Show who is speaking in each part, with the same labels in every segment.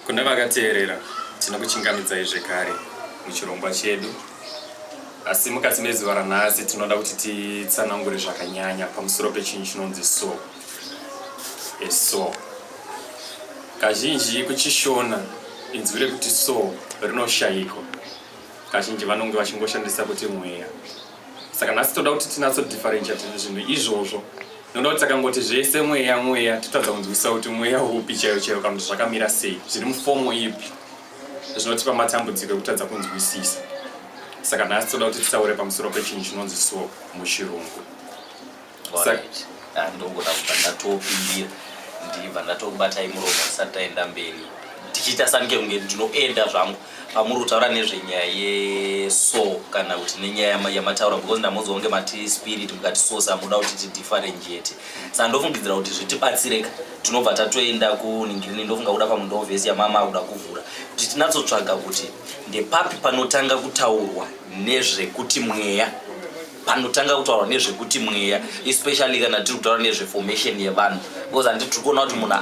Speaker 1: Kuna vakateerera tinokuchingamidzai zvekare muchirongwa chedu asi mukati mezuva ranhasi tinoda kuti titsanangure zvakanyanya pamusoro pechinhu chinonzi so eso kazhinji kuchishona inzwi rekuti so rinoshayiko kazhinji vanonge vachingoshandisa kuti mweya saka nhasi toda kuti tinatso differentiate zvinhu izvozvo noda kuti takangoti zvese mweya mweya totadza kunzwisa kuti mweya upi chaiyo chaiyo kana kuti zvakamira sei zviri mufomo ipi zvinotipa matambudziko ekutadza kunzwisisa saka nhasi toda kuti titaure pamusoro pechinhu chinonzi so muchirungu
Speaker 2: ah, ndogona kubva ndatopindira ndibva ndatokubatai muromo tisati taenda mberi ndichiita sanike kunge ndinoenda zvangu pamuri kutaura nezvenyaya yeso kana kuti nenyaya yamataura because ndamonzi wange mati spirit mukati sose amuda kuti tidifferent yete saka ndofungidzira kuti zvitibatsireka tinobva tatoenda kuningirini ndofunga kuda pamundovhesi yamama akuda kuvhura kuti tinatsotsvaga kuti ndepapi panotanga kutaurwa nezvekuti mweya panotanga kutaura nezvekuti mweya especially kana tiri kutaura nezveformation yevanhu because handi tiri kuona kuti munhu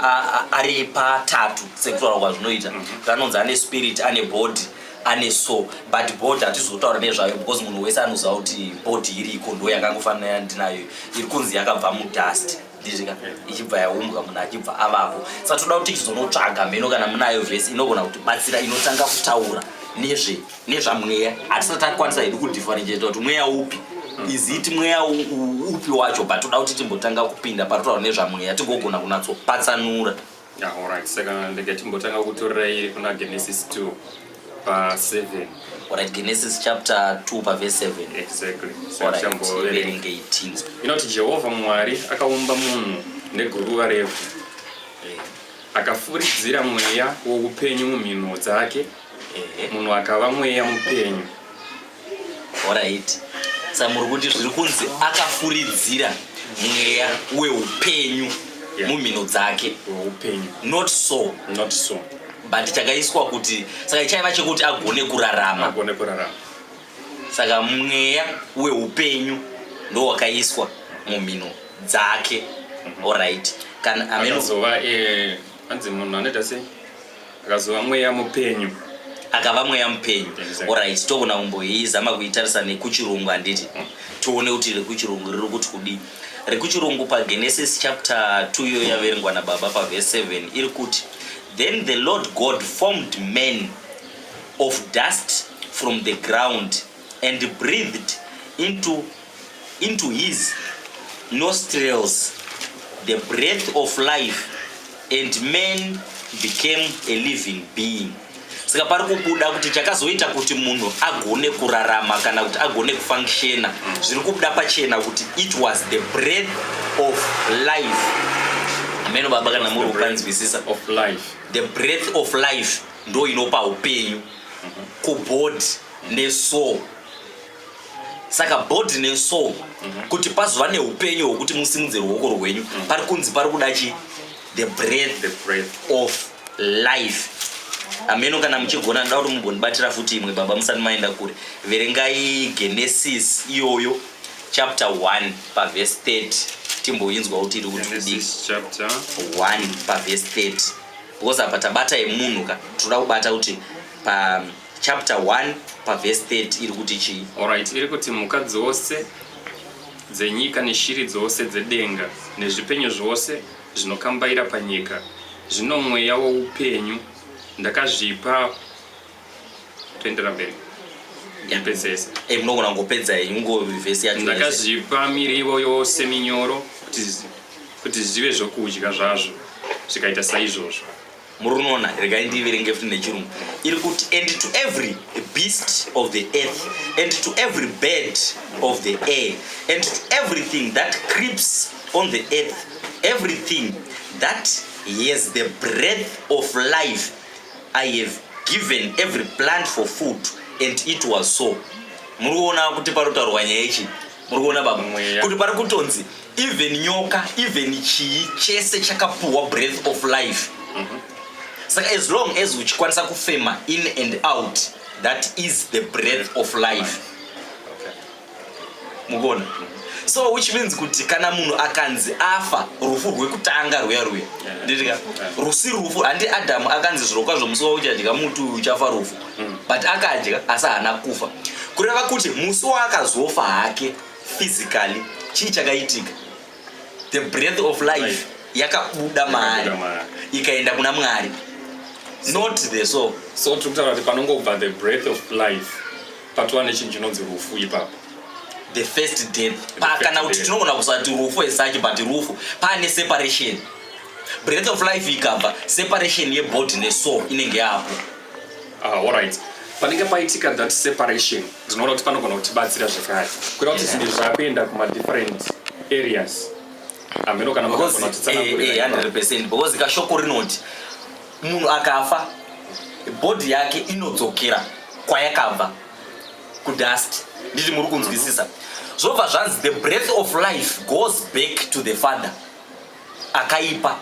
Speaker 2: ari patatu sekutaura kwazvinoita mhm. zvanonzi ane spirit ane body ane so but body hatizi kutaura nezvayo because munhu wese anoziva kuti body iriko ndo yakangofanira yandinayo iri kunzi yakabva mudust ndizika ichibva yaumbwa munhu achibva avapo sa toda kuti tizonotsvaga mheno kana munayo vhesi inogona kuti batsira inotanga kutaura nezve nezvamweya hatisati takwanisa hedu kudifferentiata kuti mweya upi iziti mweya upi wacho but toda kuti timbotanga kupinda patotaura nezvamweya tigogona kunatsopatsanura Yeah, all right.
Speaker 1: Saka ndege timbotanga kutorerai kuna Genesis 2 pa 7. All right,
Speaker 2: Genesis chapter 2 pa verse 7. Exactly. All right.
Speaker 1: Iverenge
Speaker 2: iti. Inoti Jehovah
Speaker 1: Mwari akaumba munhu neguruva revhu. Eh. Akafuridzira mweya woupenyu mumhino dzake. Eh. Munhu akava mweya mupenyu.
Speaker 2: Alright. Saka muri kuti zviri kunzi akafuridzira mweya weupenyu Yeah. mumhino dzake weupenyu not
Speaker 1: so
Speaker 2: not so but chakaiswa kuti saka chaiva chekuti agone kurarama agone kurarama saka mweya weupenyu ndo wakaiswa mumhino dzake alright kana ameno akazova
Speaker 1: eh, anzi munhu anoita sei akazova mweya mupenyu akava mweya
Speaker 2: mupenyu orit togona kumboizama kuitarisa nekuchirungu handiti mm. tione kuti rekuchirungu riri kuti kudii rekuchirungu pagenesis chapter 2 iyo yaverengwa nababa pavese 7 iri kuti then the lord god formed man of dust from the ground and breathed into, into his nostrils the breath of life and man became a living being saka pari kubuda kuti chakazoita kuti munhu agone kurarama kana kuti agone kufunctiona zviri kubuda pachena kuti it was the breath of life ameno baba kana muri kukanzwisisa
Speaker 1: the breath of
Speaker 2: life ndo inopa upenyu kubody nesoul saka body nesoul mhm. kuti pazova neupenyu hwekuti musimudze ruoko rwenyu mhm. pari kunzi pari kuda chi the breath, the breath of life ameno kana muchigona ndoda kuti mugondibatira futi imwe baba musati maenda kure verengai genesis iyoyo chapter 1 pavhesi 30 timboinzwa kuti iri kutidii 1 pavhesi 30 because apa tabata yemunhu ka tinoda kubata kuti pa chapter 1 pavhesi 30 iri kuti chii orit iri kuti mhuka
Speaker 1: dzose dzenyika neshiri dzose dzedenga nezvipenyu zvose zvinokambaira panyika zvino mweya woupenyu ndakazvipa toendera mberi yapedzesa eh, munogona
Speaker 2: ngopedza henyu ngovhesi yacho ndakazvipa mirivo
Speaker 1: yose minyoro kuti zvive zvokudya zvazvo zvikaita saizvozvo murinoona
Speaker 2: regai ndiverenge futi nechirungu iri kuti and to every beast of the earth and to every bird of the air and to everything that creeps on the earth everything that has the breath of life i have given every plant for food and it was so muri kuona kuti panotaurwa nyaya ichi muri kuona baba kuti pari kutonzi even nyoka even chii chese chakapuhwa breath of life mhm. saka as long as uchikwanisa kufema in and out that is the breath of life mukuona so which means kuti kana munhu akanzi afa rufu rwekutanga rwuya rwuya nditika rusi rufu handi adamu akanzi zvirokwazvo musi wauchadya muti uyu uchafa rufu mm. but akadya asi haana kufa kureva kuti musi waakazofa hake physically chii chakaitika the breath of life yakabuda maari ikaenda kuna mwari not the so so tiri kutaura kuti
Speaker 1: panongobva the breath of life patova nechinhu chinonzi rufu ipapo the first
Speaker 2: death pakana kuti tinogona kusati rufu esachi but rufu paane separation breath of life ikabva separation yebody nesoul inenge yapo Ah, all right
Speaker 1: panenge paitika that separation ndinoona kuti panogona kutibatsira zvekare kuita kuti zvinhu zvakuenda kumadifferent areas ameno kana makagona kutitsanangurira100 percent because
Speaker 2: kashoko rinoti munhu akafa bhodhi yake inodzokera kwayakabva kudust nditi muri kunzwisisa zvobva zvanzi the breath of life goes back to the father akaipa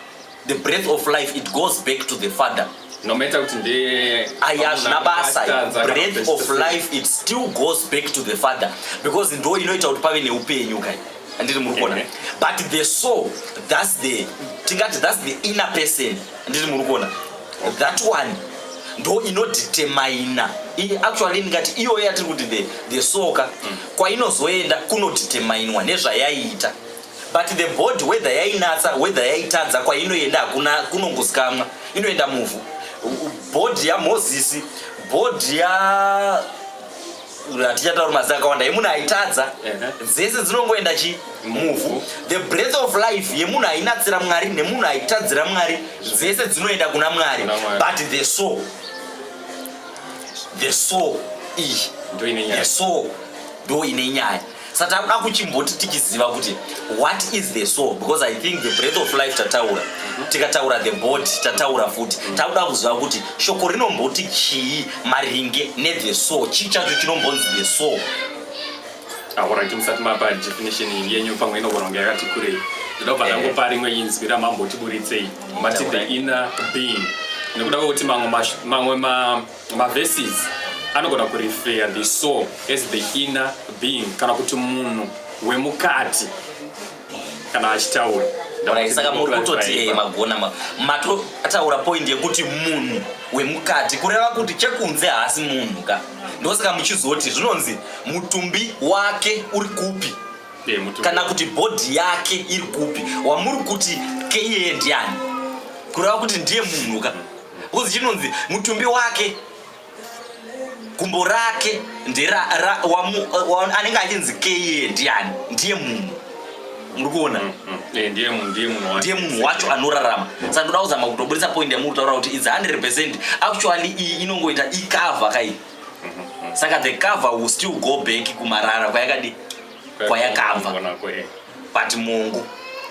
Speaker 2: the breath of life it goes back to the father nometa kuti
Speaker 1: ndeye aya hazvina basa
Speaker 2: breath of life it still goes back to the father because ndo inoita kuti pave neupenyu kai andiri muri kuona but the soul thats the tingati thats the inner person andiri muri kuona that one ndo inodetermina actually ndingati iyoyo yatiri kuti the, the soka mm. kwainozoenda kunodeterminwa nezvayaiita but the body whether yainatsa whether yaitadza kwainoenda hakuna kunongozikamwa inoenda muvhu bhodhi yamozisi bhodhi ya hatichataura mazi akawanda yemunhu aitadza dzese dzinongoenda chi muvhu the breath of life yemunhu ainatsira mwari nemunhu aitadzira mwari dzese dzinoenda kuna mwari but the soul the soul iyi the soul ndo ine nyaya sa takuda kuchimboti tichiziva kuti what is the soul because i think the breath of life tataura mhm. tikataura the body tataura futi mhm. takuda kuziva kuti shoko rinomboti chii maringe nethe soul chii chacho chinombonzi the soul
Speaker 1: ahoraiti musati mapa definition yenyu pamwe inogona kunge yakati kurei ndinobva ndangopa rimwe inzwi ramambotiburitsei mati the inner being nekuda kwekuti mamwe mamwe Maverses anogona kurefeya the soul as the inner being kana kuti munhu wemukati kana achitaura saka muri
Speaker 2: kutoti eh, magona matotaura point yekuti munhu wemukati kureva kuti chekunze haasi munhu ka ndosaka muchizoti zvinonzi mutumbi wake uri kupi eh, kana kuti bhodhi yake iri kupi wamuri kuti keiye ndiani kureva kuti ndiye munhu ka Kuzi chinonzi mutumbi wake gumbo rake ndera anenge achinzi keye ndiani ndiye munhu muri kuona mm, mm.
Speaker 1: Eh, ndiye munhu
Speaker 2: wacho anorarama saka ndoda kuzama kutobudisa point yamuri kutaura kuti its 100 percent actually iyi inongoita icava kai mm-hmm. saka the cover will still go back kumarara kwayakadi kwayakabva but mungu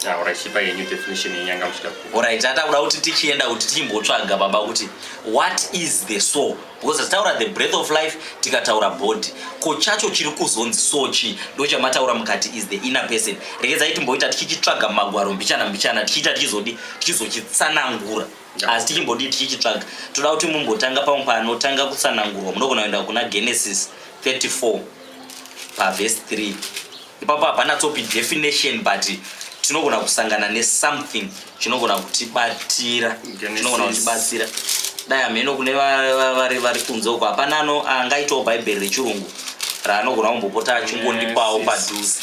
Speaker 2: aurachipa ah, yenyu definition yenyanga muchida orit atakuda kuti tichienda kuti tichimbotsvaga baba kuti what is the soul because tataura the breath of life tikataura body ko chacho chiri kuzonzi so chii ndo chamataura mukati is the inner person regedzai timboita tichichitsvaga mumagwaro mbichana mbichana tichiita tichizodi tichizochitsanangura asi tichimbodii tichichitsvaga toda kuti mumbotanga pamwe panotanga kutsanangurwa munogona kuenda kuna genesis 34 pavhesi 3 ipapo hapana tsopi definition but tinogona kusangana nesomething chinogona kutibatira chinogona kutibatsira dai hameno kune vari vari kunze uko hapana ano angaitawo bhaibheri rechirungu raanogona kumbopota achingondipawo padhuze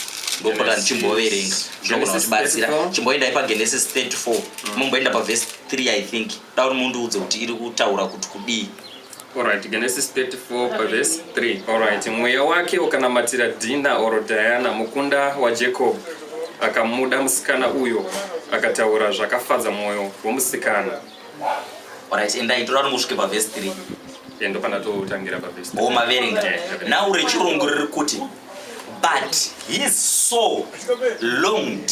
Speaker 2: ndopota ndichimboverenga zvinogona kutibatsira chimboendai pagenesis 34 mumboenda pavhesi 3 i think da kuti mundiudze kuti iri kutaura kuti kudii Alright, Genesis
Speaker 1: 34 pavhesi 3 Alright, mweya wake ukanamatira dhina oro diana mukunda wajacob akamuda musikana uyo akataura zvakafadza mwoyo womusikana
Speaker 2: Alright, endai toda kuti musvike pavhesi 3 endo pana
Speaker 1: totangira pavhesi 3 omaverenga nhau
Speaker 2: rechirungu riri kuti but his soul longed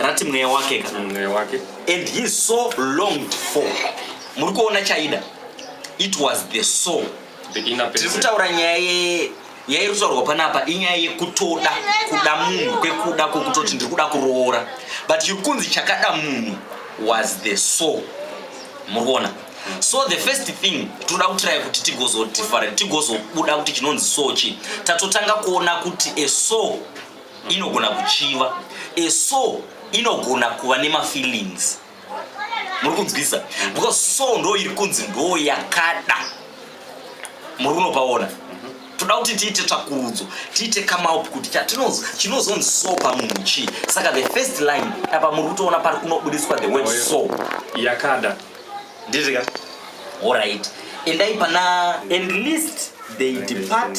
Speaker 2: rati mweya wake kana mm, mweya wake and he so longed for muri
Speaker 1: kuona
Speaker 2: chaida it was the soul tiri
Speaker 1: kutaura nyaya
Speaker 2: yairi kutaurwa panapa inyaya yekutoda kuda munhu kwekuda kwekutoti ndiri kuda kuroora but iri kunzi chakada munhu was the soul muri kuona so the first thing tinoda kutiraya kuti tigozotifarira tigozobuda kuti chinonzi sochi tatotanga kuona kuti a soul inogona kuchiva a soul inogona kuva nemafeelings muri kunzwisa because soul ndo iri kunzi ndo yakada muri unopaona toda kuti tiite tsvakurudzo tiite kamaup kuti chatinonzwa chinozonzi so pamunhu chii saka the first line apa muri kutoona pari kunobudiswa the word so yakada
Speaker 1: ndizvika
Speaker 2: orit endai pana and list they depart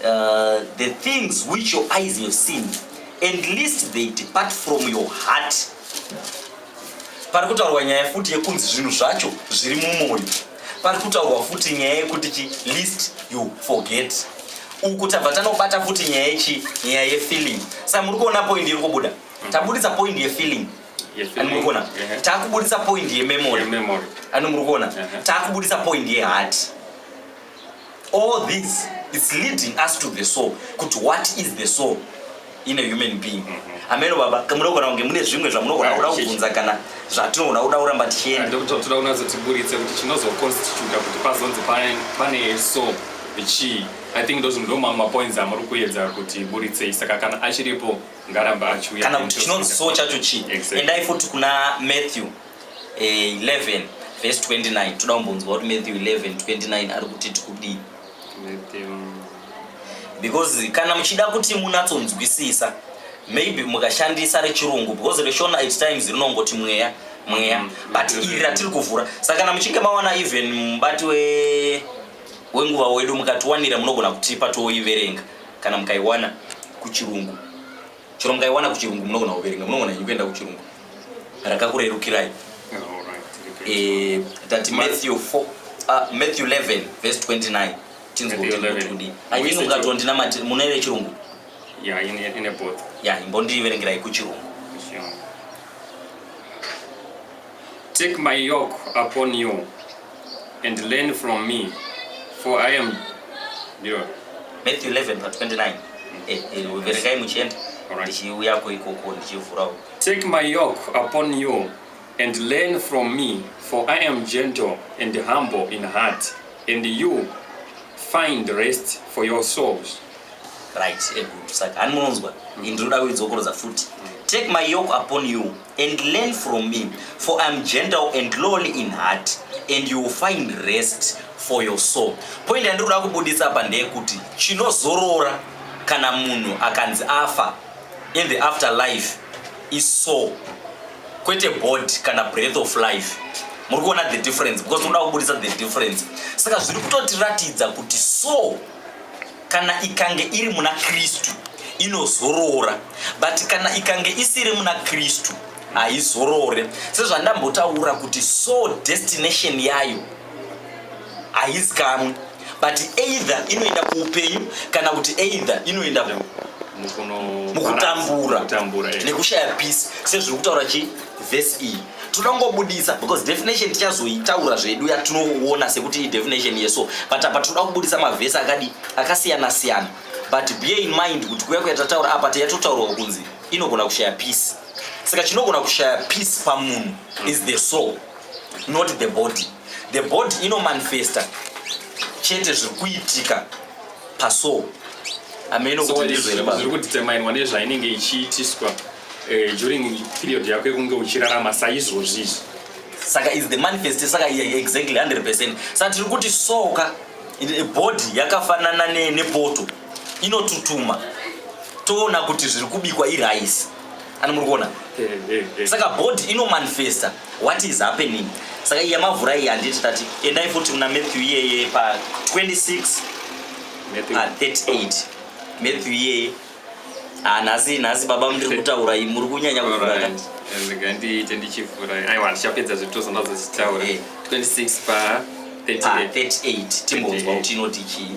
Speaker 2: Uh, the things which your eyes have seen and least they depart from your heart pari kutaurwa nyaya futi yekunzi zvinhu zvacho zviri mumwoyo pari kutaurwa futi nyaya yekuti chi least you forget uku tabva tanobata futi nyaya yechi nyaya yefeeling sa muri kuona point iri kubuda tabudisa point yefeeling ani muri kuona takubudisa point yememory ani muri kuona takubudisa point yeheart yeah, All this it's leading us to the soul kuti what is the soul in a human being mm-hmm. ameno baba munogona kunge mune zvimwe zvamunogona kuda kubvunza kana zvatinogona kuda kuramba tichiendaotoda kunazotiburitse
Speaker 1: kuti chinozoconstituta kuti pazonzi pane soul chii i think those ndo mamwe mapoints amuri kuedza kuti buritsei saka kana achiripo ngaramba achiuya kana kuti chinonzi so chacho
Speaker 2: chii endai futi kuna matthew 11 eh, vhesi 29 toda kumbonzwa kuti matthew 11 29 ari kuti tikudii because kana muchida kuti munatsonzwisisa maybe mukashandisa rechirungu because reshona at times rinongoti mweya mweya mm, but iri ratiri kuvhura saka kana muchinge mawana even mubati we wenguva wedu mukatiwanira munogona kutipa tooiverenga kana mukaiwana kuchirungu chero mukaiwana kuchirungu munogona kuverenga munogona nyi kuenda kuchirungu rakakurerukirai eh, tati matthew 4 ah, matthew 11 verse 29 tinzwakudii anyini mukatondina mati mune vechirungu
Speaker 1: ya imbondiverengerai
Speaker 2: kuchirungu
Speaker 1: Take my yoke upon you and learn from me for i am ndiyo matthew 11
Speaker 2: pa 29 eh, eh, verekai muchienda ndichiuyako ikoko ndichivhurawo take my yoke
Speaker 1: upon you and learn from me for i am gentle and humble in heart and you find rest for your souls right
Speaker 2: eh, saka hani munonzwa ndinoda kuidzokorodza futi take my yoke upon you and learn from me for I'm gentle and lowly in heart and you will find rest for your soul. Point yandiri kuda kubudisa apa ndeyekuti chinozorora kana munhu akanzi afa in the after life is soul kwete body kana breath of life muri kuona the difference because unoda kubudisa the difference saka zviri kutotiratidza kuti soul kana ikange iri muna kristu inozorora but kana ikange isiri muna kristu haizorore sezvandambotaura kuti so destination yayo haizikamwe but either inoenda kuupenyu kana kuti either inoenda mukutambura nekushaya peace sezviri kutaura chi vhesi iyi toda kungobudisa because definition tichazoitaura zvedu yatinoona sekuti idefinition yeso but apa tinoda kubudisa mavhesi akadi akasiyana siyana but bear in mind kuti kuya kuyatataura apa tiyatotaurwa kunzi inogona kushaya peace saka chinogona kushaya peace pamunhu is the soul not the body the body inomanifesta chete zviri kuitika paso hameno kuti ndizvo here baba zviri kudetemainwa
Speaker 1: nezvainenge ichiitiswa eh, during period yako yekunge uchirarama saizvozvi izvi saka
Speaker 2: is the manifest saka exactly 100 percent saka tiri kuti soka body yakafanana nepoto inotutuma toona kuti zviri kubikwa iraisi ani muri kuona eh, eh, eh. saka body inomanifesta what is happening saka iya mavhura iyi handiti tati endai futi muna matthew iyeye pa 26 38 matthew iyeye ah, nhasi nhasi baba mndiri kutaura i muri kunyanya kuvhura ndiite
Speaker 1: ndichivhura aiwa ndichapedza zvitozo ndazochitaura 26 eh. pa 38
Speaker 2: timbonzwa kuti inoti chii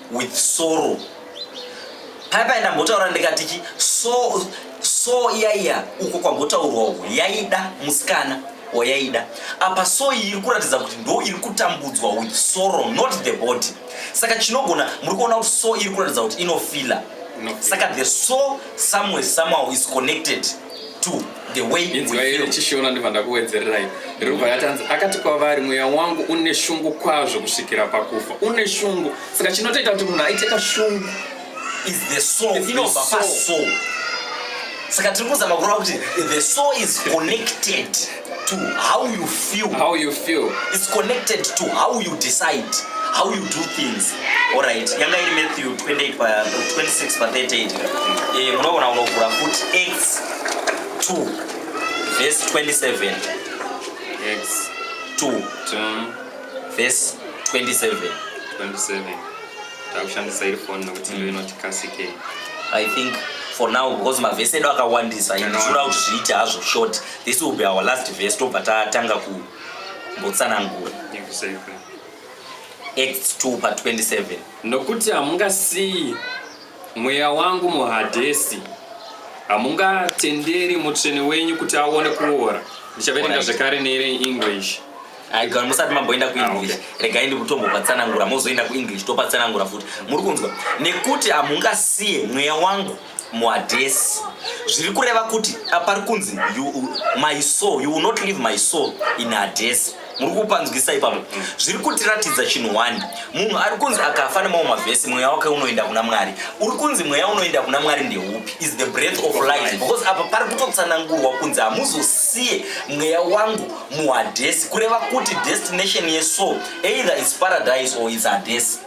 Speaker 2: with sorrow paya paya ndambotaura ndikati chi so so iya iya uko kwambotaurwa uko yaida musikana wayaida apa so iyi iri kuratidza kuti ndo iri kutambudzwa with sorrow not the body saka chinogona muri kuona kuti so iri kuratidza kuti inofila saka the so somewhere somehow is connected to the way inzwaire chishona ndibva
Speaker 1: ndakuwedzererai rubva yatanzi akati kwavari mweya wangu une shungu kwazvo kusvikira pakufa une shungu saka chinotoita kuti munhu aite kashungu is the
Speaker 2: soul inobva pasoul saka tiri kuzama kureva kuti the soul is connected to how you feel how you feel
Speaker 1: it's connected
Speaker 2: to how you decide how you do things all right yanga iri matthew 28 pa 26 pa 38 eh munoona unovhura futi x 2 verse 27
Speaker 1: x 2 2
Speaker 2: verse 27 27
Speaker 1: takushandisa iri phone nokuti ndo inoti kasike i think
Speaker 2: for now because mavhesi edu akawandisa inzvura kuti zviite hazvo short This will be our last verse tobva tatanga kumbotsanangura Acts 2 pa 27 nokuti
Speaker 1: hamungasiyi mweya wangu muhadhesi hamungatenderi mutsvene wenyu kuti aone kuora ndichaverenga zvekare neire english aigara musati
Speaker 2: mamboenda kuenglish ah, regai ndikutombopatsanangura mozoenda kuenglish topatsanangura futi muri kunzwa nekuti hamungasiye mweya wangu muadhesi zviri kureva kuti apari kunzi my soul you will not leave my soul in adhesi muri kupanzwisa ipapo mm. zviri kutiratidza chinhu wani munhu ari kunzi akafa nemamwe mavhesi mweya wake unoenda kuna mwari uri kunzi mweya unoenda kuna mwari ndeupi is the breath of life because apa pari kutotsanangurwa kunzi hamuzosiye mweya wangu muhadhesi kureva kuti destination yesoul either is paradise or is hadhesi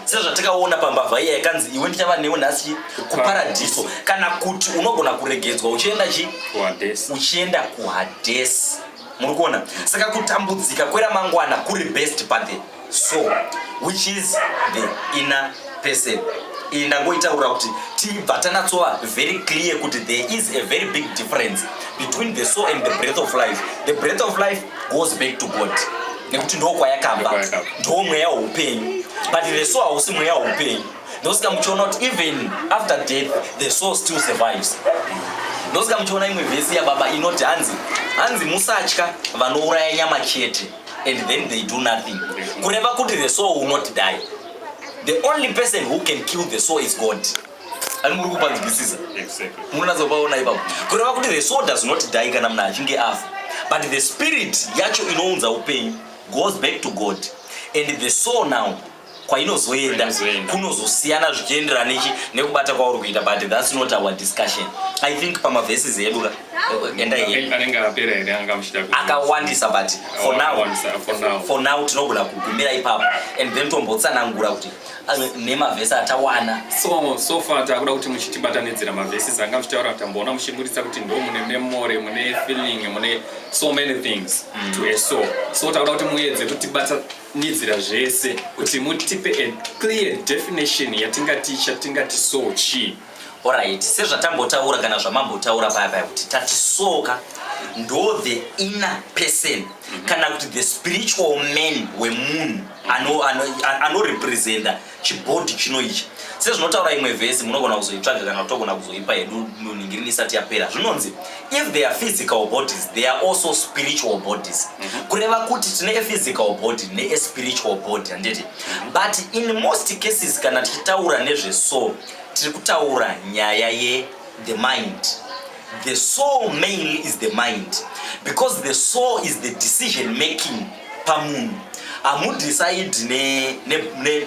Speaker 2: sezvatakaona pambavha iya yakanzi iwe ndichava newe nhasi kuparadhiso kana kuti unogona kuregedzwa uchienda chi uchienda kuhadhesi muri kuona saka kutambudzika kweramangwana kuri best pate so which is the inner person iyi ndangoitaura kuti tibva tanatsova very clear kuti there is a very big difference between the soul and the breath of life the breath of life goes back to god nekuti ndokwayakabva ndomweya weupenyu but the soul hausi mweya weupenyu ndosika muchiona kuti even after death the soul still survives ndosika muchiona imwe vhesi yababa inoti hanzi hanzi musatya vanouraya nyama chete and then they do nothing kureva kuti the soul will not die the only person who can kill the soul is god ani muri kupanzwisisa munonatsa
Speaker 1: kupaona ipapo
Speaker 2: kureva kuti the soul does not die kana munhu achinge afa but the spirit yacho inounza upenyu goes back to god and the soul now kwainozoenda kunozosiyana zvichienderana nechi nekubata kwauri kuita but thats not our discussion i think pamaveses edu ka akawandisa but for now, for now tinogona kugumira ipapo and then tombotsanangura kuti nemavhesi atawana so so far
Speaker 1: takuda kuti muchitibatanidzira mavhesi zanga muchitaura tamboona muchiburitsa kuti ndo mune memory mune feeling mune so many things mm. to a so so takuda kuti muedze kutibatanidzira zvese kuti mutipe a clear definition yatingati chatingati so chii Alright,
Speaker 2: sezvatambotaura kana zvamambotaura paya paya kuti tati soka ndo the inner person mhm. kana kuti the spiritual man wemunhu anorepresenta chibhodhi chino ichi sezvinotaura imwe vhesi munogona kuzoitsvaga kana kutogona kuzoipa hedu nonhingirini isati yapera zvinonzi if they are physical bodies they are also spiritual bodies mhm. kureva kuti tine ephysical body neespiritual body handiti mhm. but in most cases kana tichitaura nezvesoul tiri kutaura nyaya ye the mind the soul mainly is the mind because the soul is the decision making pamunhu hamudecide ne, ne, ne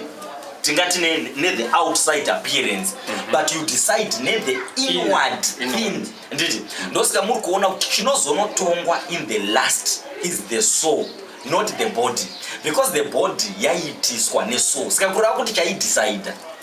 Speaker 2: tingati ne, ne the outside appearance mm -hmm. but you decide ne the inward thing nditi ndosika muri kuona kuti chinozonotongwa in the last is the soul not the body because the body yaiitiswa nesoul sika kureva kuti chaidecide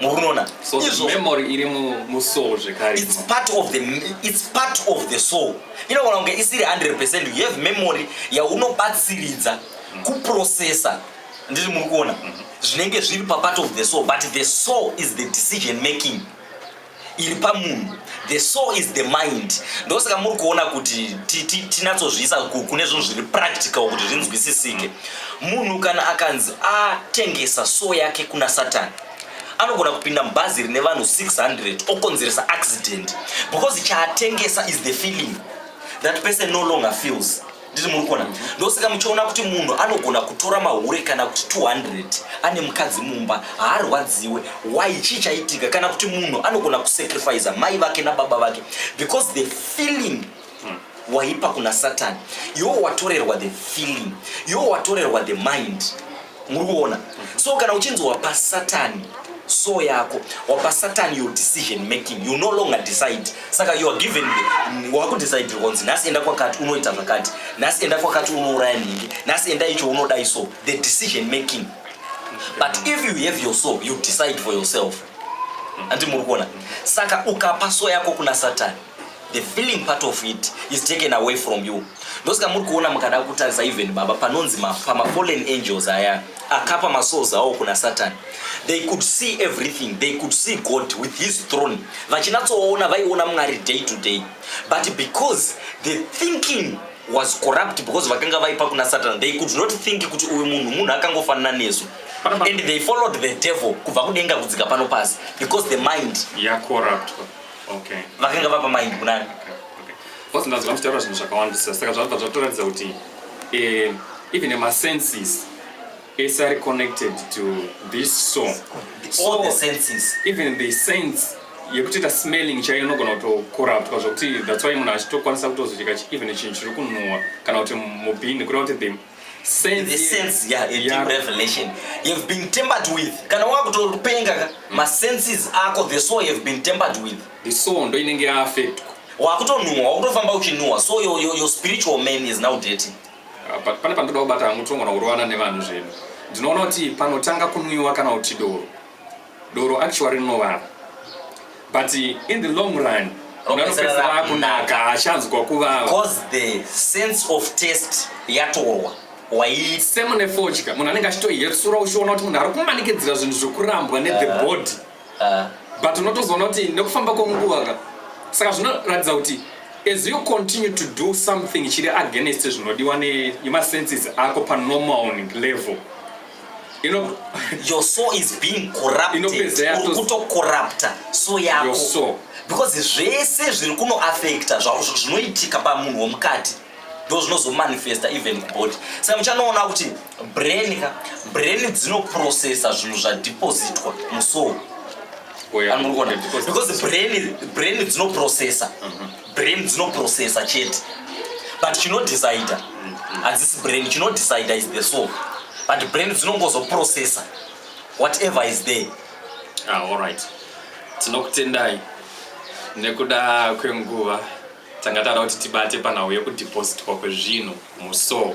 Speaker 2: mukunona so the memory
Speaker 1: iri musoul zvekare it's part of the
Speaker 2: it's part of the soul inogona kunge isiri 100% you have memory yaunobatsiridza mm. kuprocessa ndizvi muri kuona mm-hmm. zvinenge zviri papart of the soul but the soul is the decision making iri pamunhu the soul is the mind ndosaka muri kuona kuti tinatsozviisa kune zvinhu zviri practical kuti zvinzwisisike munhu kana akanzi atengesa soul yake kuna satani anogona kupinda mubhazi rine vanhu 600 okonzeresa accident because chaatengesa is the feeling that person no longer feels ndiri muri kuona ndosaka muchiona kuti munhu anogona kutora mahure kana kuti 200 ane mukadzi mumba haarwadziwe why chii chaitika kana kuti munhu anogona kusacrifice mai vake nababa vake because the feeling waipa kuna satani yowatorerwa the feeling yowatorerwa the mind muri kuona so kana uchinzi wapa satani so yako wapa satani your decision making you no longer decide saka you are given wakudecide konzi nhasi enda kwakati unoita zvakati nhasi enda kwakati unouraya nhingi nhasi enda icho unodai so the decision making but if you have your soul you decide for yourself andi muri kuona saka ukapa so yako kuna satani the feeling part of it is taken away from you ndosaka muri kuona mukada kutarisa even baba panonzi pamafallen angels aya akapa masouls awo kuna satani they could see everything they could see god with his throne vachinatsoona vaiona mwari day to day but because the thinking was corrupt because vakanga vaipa kuna satani they could not think kuti uyu munhu munhu akangofanana nesu and they followed the devil kubva kudenga kudzika pano pasi because the mind yakorruptwa yeah,
Speaker 1: okay vakanga vapa mind
Speaker 2: kunani okay okay boss
Speaker 1: ndazi vamutaura zvinhu zvakawandisa saka zvabva zvatoratidza kuti eh even my senses is are connected to this song so, all the
Speaker 2: senses even the sense
Speaker 1: yekutoita smelling chaiyo inogona kutokoraptwa zvokuti that's why munhu achitokwanisa kutozodika even chinhu chiri kunhuwa kana kuti mubhini kureva kuti the sense the sense yeah,
Speaker 2: yeah. deep revelation you have been tempered with kana wakutopenga ka mm. ma senses ako the soul you have been tempered with the soul ndo inenge ya
Speaker 1: affect wakutonhuwa wakutofamba uchinhuwa
Speaker 2: so your, your, your spiritual man is now dirty uh, pane pandoda
Speaker 1: kubata mutongona kurovana nevanhu zvedu ndinoona kuti panotanga kunwiwa kana kuti doro Doro actually rinovava but in the long run unganopedzisira rakunaka hachanzwa kuvava because the
Speaker 2: sense of taste yatorwa same nefodya
Speaker 1: munhu anenge achitoyetsura uchiona kuti munhu ari kumanikidzira zvinhu zvekurambwa nethe ah. body ah. but unotozoona kuti nekufamba kwenguva ka saka zvinoratidza kuti as you continue to do something chiri against zvinodiwa nemasenses ako panormal level you know your soul is
Speaker 2: being corrupted uri kutokorrupta so yako because
Speaker 1: zvese
Speaker 2: zviri kuno affecta zvinoitika pamunhu womukati ndo zvinozomanifesta even kubody saka muchanoona kuti brain ka brain dzinoprocessa zvinhu zvadepositwa musoul oh, because brain dzinoprocessa mm-hmm. brain dzinoprocessa chete but chinodecider hadzisi brain chinodecider is the soul but brain dzinongozoprocessa whatever is there ah, all right
Speaker 1: tinokutendai nekuda kwenguva tanga tara kuti tibate panhau yekudepositwa kwezvinhu musoul